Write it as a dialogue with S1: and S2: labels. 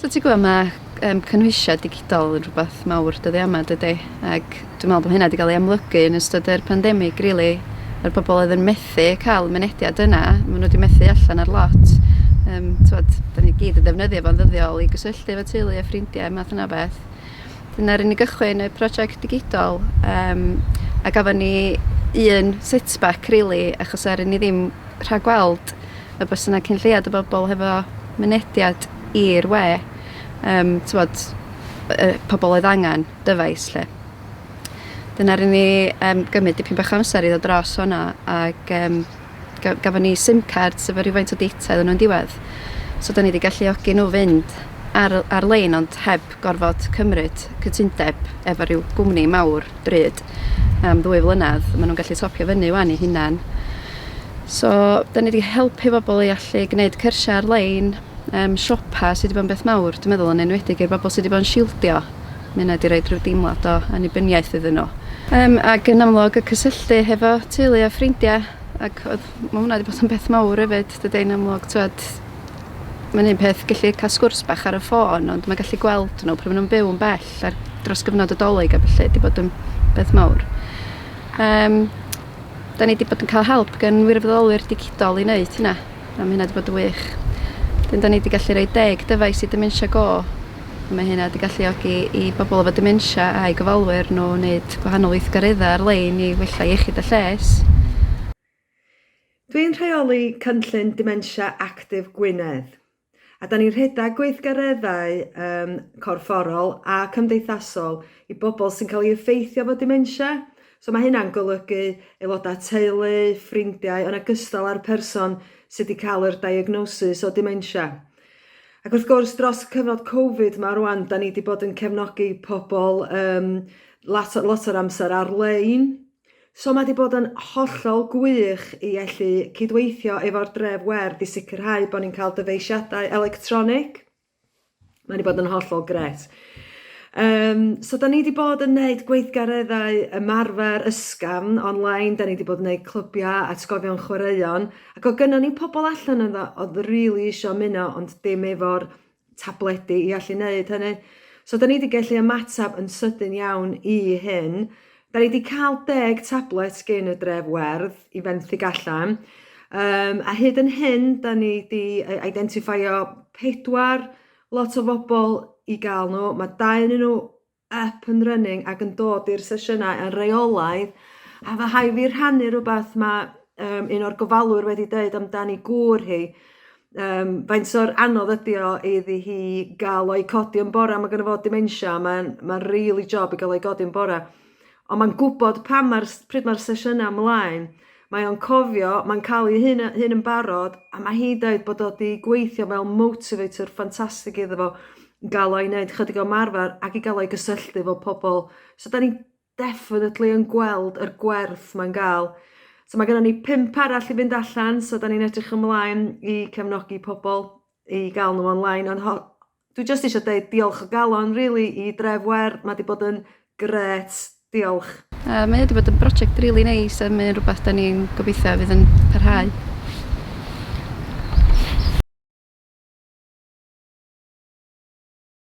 S1: So ti'n gwybod, mae um, cynhwysiau digidol yn rhywbeth mawr dyddi yma, dydy? Ac dwi'n meddwl bod hynna wedi cael ei amlygu yn ystod yr pandemig, really. Mae'r bobl oedd yn methu cael mynediad yna, maen nhw wedi methu allan ar lot. Um, tywed, da ni gyd yn ddefnyddio fo'n ddyddiol i gysylltu efo teulu a ffrindiau, math yna beth. Dyna ry'n ni gychwyn y prosiect digidol um, a gafon ni un setback really achos er ni ddim rhag gweld y bys yna cyn lleiad o bobl hefo mynediad i'r we um, tywod, y pobl oedd angen dyfais lle. Dyna rydyn ni um, gymryd dipyn bach amser i ddod dros hwnna ac um, ga- gafon ni sim card sef efo rhywfaint o data iddyn nhw'n diwedd. So 'dan ni wedi galluogi nhw fynd ar ar-lein ond heb gorfod cymryd cytundeb efo rhyw gwmni mawr bryd am ddwy flynedd. Maen nhw'n gallu topio fyny wan i hunan. So 'dan ni wedi helpu bobl i allu gwneud cyrsiau ar-lein, um, siopa sydd wedi bod yn beth mawr dwi'n meddwl yn enwedig i'r bobl sydd wedi bod yn shieldio. Ma' hynna 'di roid rhyw deimlad o annibyniaeth iddyn nhw. Yym, ac yn amlwg y cysylltu hefo teulu a ffrindia, ac oedd, ma' hwnna 'di bod yn beth mawr hefyd, dydy, yn amlwg, t'wod, mae'n un peth gallu cael sgwrs bach ar y ffôn, ond mae gallu gweld nhw pryd maen nhw'n byw yn bell ar dros gyfnod y Dolig a ballu 'di bod yn beth mawr. Yym, da ni 'di bod yn cael help gan wirfoddolwyr digidol i wneud hynna, a ma' hynna 'di bod yn wych. Wedyn da ni 'di gallu rhoi deg dyfais i Dementia Go Mae hyn wedi galluogi i bobl efo dementia a'u gofalwyr nhw wneud gwahanol weithgareddau ar-lein i wella iechyd a lles.
S2: Dwi'n rheoli cynllun Dementia Actif Gwynedd, a 'da ni'n rhedeg gweithgareddau corfforol a cymdeithasol i bobl sy'n cael ei effeithio efo dementia. So mae hynna'n golygu aelodau teulu, ffrindiau, yn ogystal â'r person sydd wedi cael yr diagnosis o dementia. Ac wrth gwrs dros y cyfnod Covid 'ma rŵan 'dan ni 'di bod yn cefnogi pobol yym lot o lot o'r amser ar-lein. So ma' 'di bod yn hollol gwych i allu cydweithio efo'r Dref Werdd i sicirhau bo' ni'n ca'l dyfeisiadau electronig. Ma' 'di bod yn hollol grêt. Yym so 'dan ni 'di bod yn neud gweithgareddau ymarfer ysgafn on-line 'dan ni 'di bod yn neud clybiau atgofion chwaraeon Ac oedd gynnon ni pobl allan ynddo oedd rili isio ymuno ond dim efo'r tabledi i allu neud hynny. So 'dan ni 'di gellu ymatab yn sydyn iawn i hyn. 'Dan ni 'di ca'l deg tablet gin y dref werdd i fenthyg allan yym a hyd yn hyn 'dan ni 'di yy eidentiffeio pedwar lot o fobol i ga'l n'w ma' dau o'nyn nw up and running ac yn dod i'r sesiynau yn reolaidd a fy rhai fi rhannu rhywbeth ma' yym un o'r gofalwyr wedi deud amdani gŵr hi yym faint o'r anodd ydi o iddi hi ga'l o i codi yn bora ma' gynno fo dementia ma'n ma'n rili job i ga'l o i godi yn bora. Ond mae'n gwybod pan mae'r... pryd mae'r sesiynau ymlaen. Mae o'n cofio, mae'n cael ei hun, hun yn barod, a mae hi'n dweud bod o wedi gweithio fel motivator ffantastig iddo fo, gael o'i wneud chydig o marfer ac i gael o'i gysylltu efo pobl. So da ni definitely yn gweld yr gwerth mae'n gael. So mae gennym ni pimp arall i fynd allan, so da ni'n edrych ymlaen i cefnogi pobl i gael nhw online, ond ho- Dwi jyst isio deud diolch o galon rili i Dref Wêr, ma' 'di bod yn grêt. Diolch.
S1: Yy mae o 'di bod yn broject rili neis a mae o'n
S2: rwbath
S1: 'dan ni'n gobeithio fydd yn parhau.